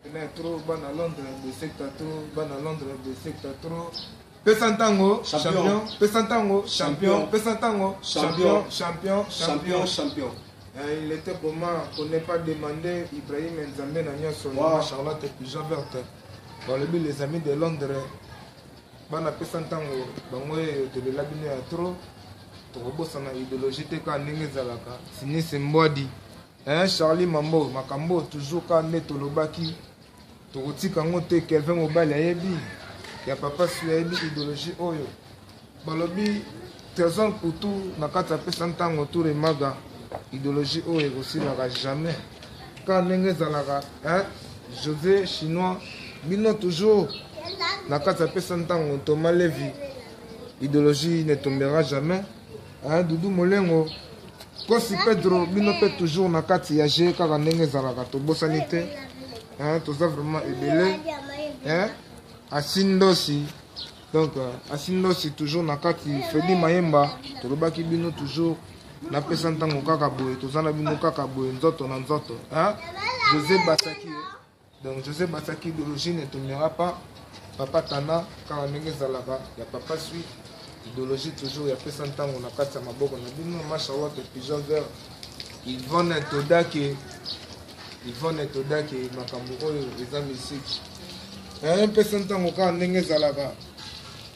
ena tro bana londre bosekta tro bana londre bosekta tro pesa ntango champion pesa ntango champion pesa ntango champion champion champion champion Euh, il était comment pour ne pas demander Ibrahim Nzambe na nyonso wow. Charlotte Pigeon Verte balobi les amis de Londres bana pesa ntango bango oyo tolela bino ya trop tokobosana idéologie te kaka ndenge ezalaka sinisi mbwadi Eeh Charlie Mambo makambo oyo toujours ka nde tolobaki tokotika yango te Kelvin Mobali ayebi ya papa Sui ayebi ideologie oyo balobi Trésor Mputu na kati apesa ntango tour emaga ideologie oyo ekosilaka jamais ka ndenge ezalaka hein José chinois bino toujours na kati apesa ntango Thomas Levi ideologie ne tombera jamais Hein, Doudou Molengo, Kosi Pedro, bino pe toujours na kati ya jeu kaka ndenge ezalaka tobosani te. Hein, toza vraiment ebele. Hein? Asindosi. Donc euh, Asindosi toujours na kati Freddy Mayemba, tolobaki bino toujours napesa ntango kaka boye toza na bino kaka boye nzoto na nzoto hein? José Basaki Donc Joseph Basaki idéologie ne tombera pas papa Tana kaka ndenge ezalaka ya papa sui idéologie toujours ya pesa ntango na kati ya maboko na bino masha wake pigeon vert Yvonne Todake Yvonne Todake makambo oyo eza musique eh, pesa ntango kaka ndenge ezalaka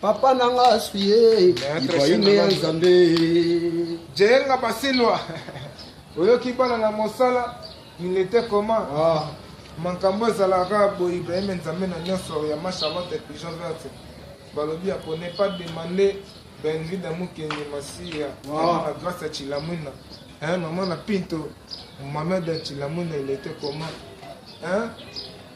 Papa na nga aswi ye, Ibrahime ya Nzambe. Jenga basilwa, oyoki bana na mosala, il était comment? Ah. Makambo ezalaka boye Ibrahime Nzambe na nyonso ya ma charlotte pigeon verte. Balobi ya ko ne pas demander Benvida Mukendi Masiya, ah. na grâce ya Chilamwina. Hein, maman na Pinto, maman de Chilamwina, il était comment? Hein?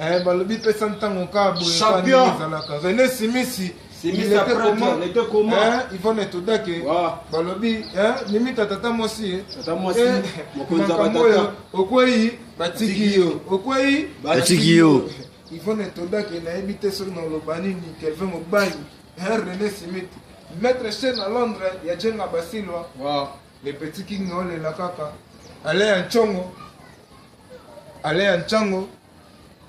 Eh, balobi pesa ntango kaka boye Champion. kaka ezalaka rene simisi Simisi il était après, comment? il était comment? Eh, ivone todake Wow. balobi eh, mimita tata mwasi ye. Tata mwasi, Eh, mokonzi ya makambo batata. oyo okwei batiki yo okwei Batiki yo. ivone todake nayebi te soki naloba nini kelvin mobangi eh, rene simiti maître chen na londres ya jenga basilwa Wow. le petit king naolela kaka ale ya ncongo Alain ya Nchango,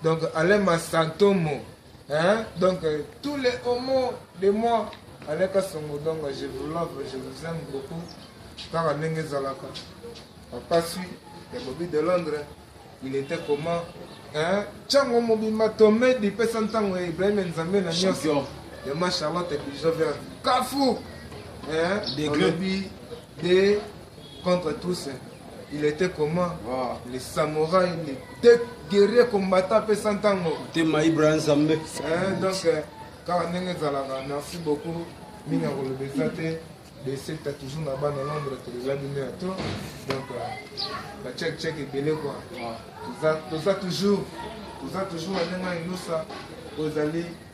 donc Alain Masantomo, hein? donc tous les homos de moi, Alain Kasongo, donc je vous love, je vous aime beaucoup, kaka ndenge ezalaka. Papa Sui, ya Bobby de Londres, il était comment hein? Nchango mobimba tomedi, pesa ntango ya Ibrahim Nzambe na nyonso. Ya ma Charlotte Bijover, Kafou, hein? Degré. Olobi, de contre tous il était comment ah. les samouraï les deux guerrier combattant apesa ntango tema ibra nzambe eh, donc eh, kaka ndenge ezalaka merci beaucoup mingi ya koloba eza te besekta toujours na bana nombre toza bino ya to donc bachek euh, chek ebele kua toza toujours toza toujours na ndenge ya inosa ozali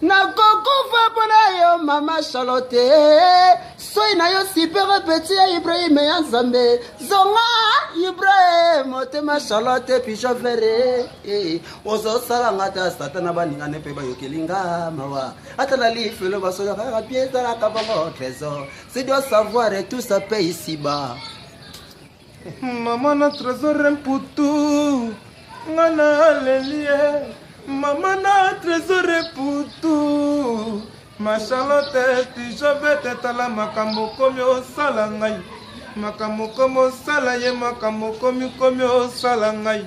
nakokufa mpo na yo mama charlotte soi na yo sipere peti ya ibrahim ya nzambe zonga ibrahim motema charlotte pijo vere eh, ozosala nga ta satana baningane mpe bayokeli nga mawa ata na lifelo basolaka kaka bie ezalaka bango trésor si doit savoir tout ça pe isiba Mama na tresor mputu nga nalelie mama na tresor mputu mashalote tijobete tala makambo okomi osala ngai makambo okomi osala ye makambo okomi komi osala ngai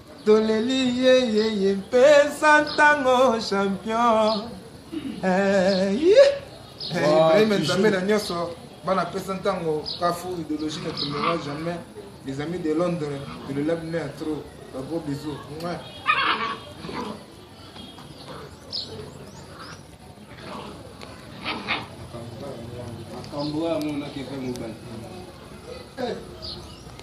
Toleli ye ye ye mpesa ntango champion eh, Ibrahim Nzambe na nyonso bana pesa ntango kafu idéologie ne tombera jamais les amis de Londres de le lab à trop ba gros bisous ouais. Makambo oyo amonaki epai mobali eh.